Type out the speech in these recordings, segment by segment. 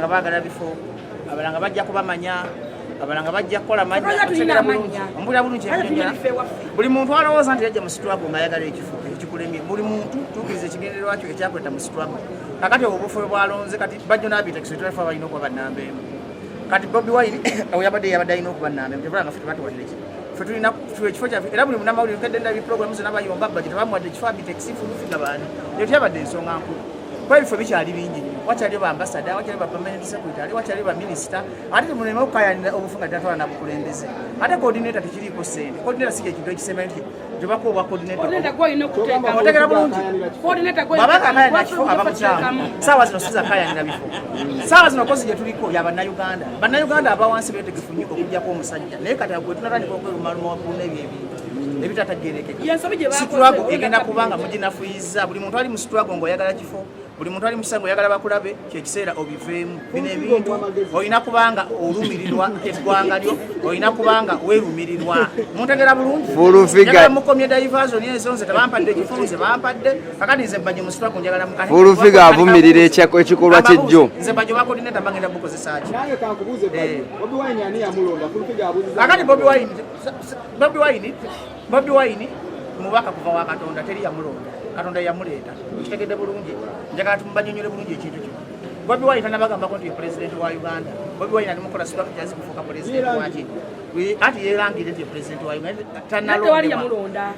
nga bagala bifo abala nga bajja kubamanya abala nga bajja kukola manyambulira bulungi buli muntu alowooza nti yajja mu situlago nga ayagala ekifo ekikulemye buli muntu tukiriza ekigendererwa kyo ekyakweta mu situlago kakati obufu bwalonze kati bajjo nabitakisitulafa balina okuba banamba emu kati bobi wine oyabadde yabadde alina okuba namba emu tebala nga fe tebatuwadde ki fe tulina ekifo kyafe era buli munamawulire nkedde ndabi programu zona bayomba bajeti bamuwadde ekifo abitekisinfulufiga baani eyo tyabadde ensonga nkulu kuba ebifo bikyali bingi nnyo wakyaliyo baambasada wakyaliyo bapamaenti sekuritale wakyaliyo baminisita ate temuleme okukayanira obufu nga tatwala nabukulembeze ate kodineta tekiriiko sente kodineta si kyekintu ekisembayo nti gyobako obwa kodinetaotegera bulungi babanga akayanira kifo abamukyamu saawa zino siza kayanira bifo saawa zino kozi gyetuliko ya bannayuganda bannayuganda abawansi betegefu nnyo okujjako omusajja naye kati agwetunatandika okwerumaluma wakuluna ebyo ebintu situlago egenda kubanga muginafuyiza buli muntu ali mu situlago ngaoyagala kifo buli muntu ali mukisago oyagala bakulabe kyekiseera obiveemu bino ebintu olina kubanga olumirirwa eggwanga lyo olina kubanga werumirirwa muntegera bulungimukomye divation ezo nze tebampadde ekifo nze bampadde kakati nze bajo musitwago njagala mukafulufiga avumirira ekikolwa kyejjo nze bajo bakodineta bagenda bukozesaki eh. kakati bobi wine Bobi Wine Bobi Wine mubaka kuva wa Katonda teri yamulonda Katonda yamuleeta kitegedde bulungi njagala tumubanyonyole bulungi ekintu kino Bobi Wine tanabagambako nti ye president wa Uganda Bobi Wine ali mukola sibaka kyazi kufuuka president waki anti yeerangire nti ye president wa Uganda tanalonda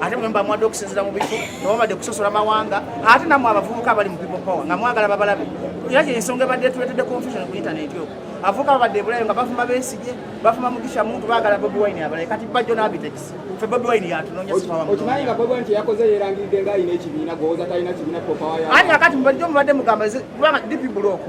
ate mwe mbamuwadde okusinzira mu bifo newabadde kusosola mawanga ate namwe abavubuka abali mu people power nga mwagala babalabe era kyensonga ebadde tuletedde confusion ku intaneti oku avubuka babadde ebulayo nga bavuma besigye bavuma mugisha muntu bagala bobi wine abalaye kati bajjo nabitex fe bobi wine yatunonya sifawamukimanyi nga bobi wine teyakoze yerangiridde nga alina ekibiina gwowoza talina kibiina popawayo ate kakati mubajjo mubadde mugamba kubanga dipi bulooku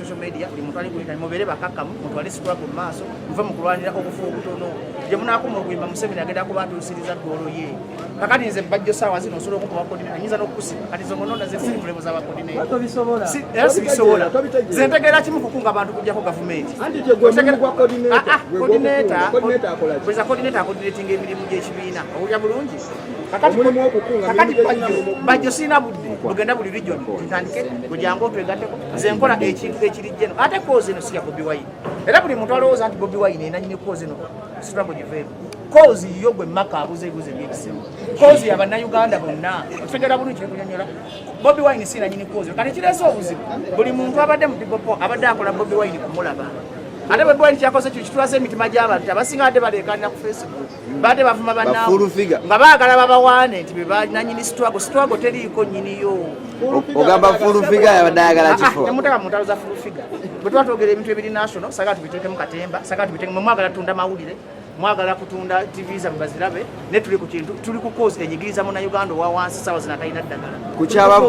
social media buli muntu alikuleta mubere bakakamu muntu ali sikula ku maaso muve mu kulwanira okufuwa okutono gye munaakuma okuyimba museveni agenda kuba atuusiriza ggoolo ye kakati nze bajjo saawa zino osobola okuba wakodine anyinza n'okukusiba kati zo ngononda ze siri mulemu za bakodine era sibisobola ze ntegeera kimu kukunga abantu kujjako gavumenti kodineta bweza kodineta akodinetinga emirimu gy'ekibiina owulira bulungi kakati bajjo sirina budde ogenda buli region ntandike gwe jangu otwegateko nze nkola ekintu ekirijjeno ate kozi eno siya bobi wine era buli muntu alowooza nti bobi wine enanyini kozi eno situlago giveemu kozi yo gwe maka abuze ebuze ebyekisimu kozi yabannauganda bonna otutegera bulungi kyekunyonyola bobi wine si nanyini kozi kati kireese obuzibu buli muntu abadde mu pipopo abadde akola bobi wine kumulaba ate bobi wine kyakoze kyo kitwasa emitima gy'abantu abasinga badde baleekanira ku facebook baate bavuma banaabwe nga baagala babawaane nti bebananyini sitwago sitwago teriiko nyiniyo ogamba fulufiga yabadde ayagala ah, ah, kifo temutaka mu ntalo za fulufiga bwe tuba twogera ebintu ebiri national saga tubiteekemu katemba saga tubiteekemu mwe mwagala tunda mawulire mwagala kutunda tv zabwe bazirabe ne tuli ku kintu tuli ku kozi enyigiriza muna uganda owa wansi sawa zinatalina ddagala ku kyaba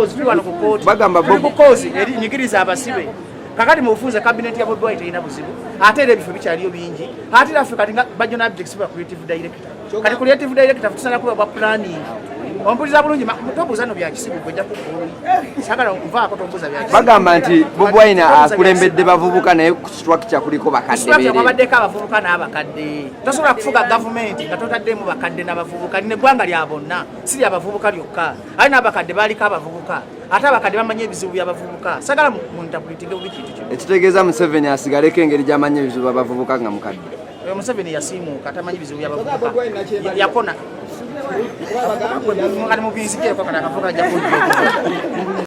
bagamba bobi ku kozi enyigiriza abasibe kakati mubufunze kabineeti ya bodwai terina buzibu ate era ebifo bikyaliyo bingi ate era ffe kati nga bajona abjects ba creative director kati creative director futusana kuba bwa planning ompuliza bulungi tobuuza no byakisibu gweja kukulu sagala nkuvaako tobuuza byakisibu bagamba nti bobwaina akulembedde bavubuka naye ku structure kuliko bakadde babaddeko abavubuka n'abakadde tosobola kufuga gavumenti nga totaddemu bakadde n'abavubuka nine eggwanga lya bonna si lya bavubuka lyokka ali n'abakadde baaliko abavubuka ate abakadde bamanyi ebizibu byabavubuka sagala muntabulitinge bubi kintu kino ekitegeeza museveni asigaleko engeri gyamanyi ebizibu abavubuka nga mukadde oyo museveni yasiimuuka tamanyi bizibu byabavubuka yakona kati mubinzikeko kati akavuka jakuja